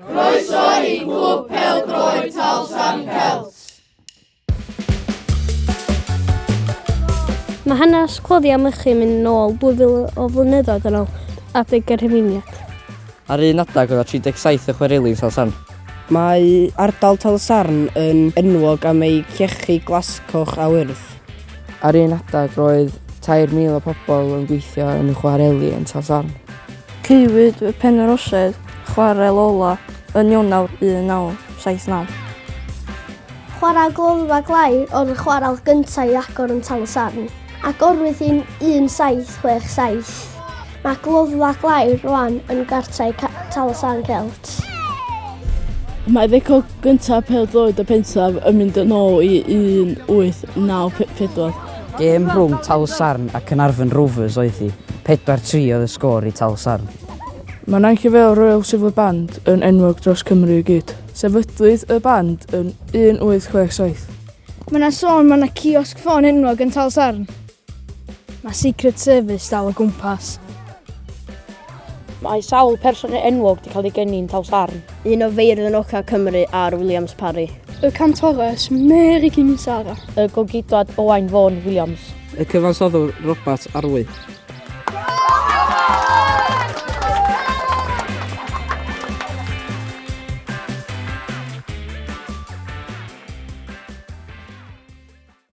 Croeso i Glwb Pel Droed Talsan Celt! Mae hanes cloddiau mychu mynd nôl 2000 o flynyddoedd yn ôl adeg y Rhufeiniaid. Ar un adeg oedd 37 y chwerelin Talsarn. Mae ardal Talsarn yn enwog am ei llechi glascoch a wyrdd. Ar un adeg roedd 3,000 o pobl yn gweithio yn y chwareli yn Talsarn. Caewyd fy Penyrorsedd, chwarel ola, yn Ionawr 1979. Chwarae gloddfa glai oedd y chwarel gyntaf i agor yn Tal-y-sarn. Agorwyd yn 1767. Mae gloddfa glai rwan yn gartrau Tal-y-sarn Celt. Mae record gyntaf pêl-droed y pentref yn mynd yn ôl i 1894. Gêm rhwng Talsarn a Caernarfon Rovers oedd hi, 4-3 oedd y sgôr i Talsarn. Mae Nain Cyfeil Royal Silver Band yn enwog dros Cymru i gyd. Sefydlwyd y band yn 1867. Mae yna sôn mae yna ciosg ffôn enwog yn Talsarn. Mae Secret Service dal o gwmpas. Mae sawl person enwog wedi cael ei geni'n Taws Arn. Un o feirdd yn Oca Cymru ar Williams Parry. Y cantores Mary Kimisara. Y gogidwad Owain Vaughan Williams. Y cyfansoddwr Robert Arwy.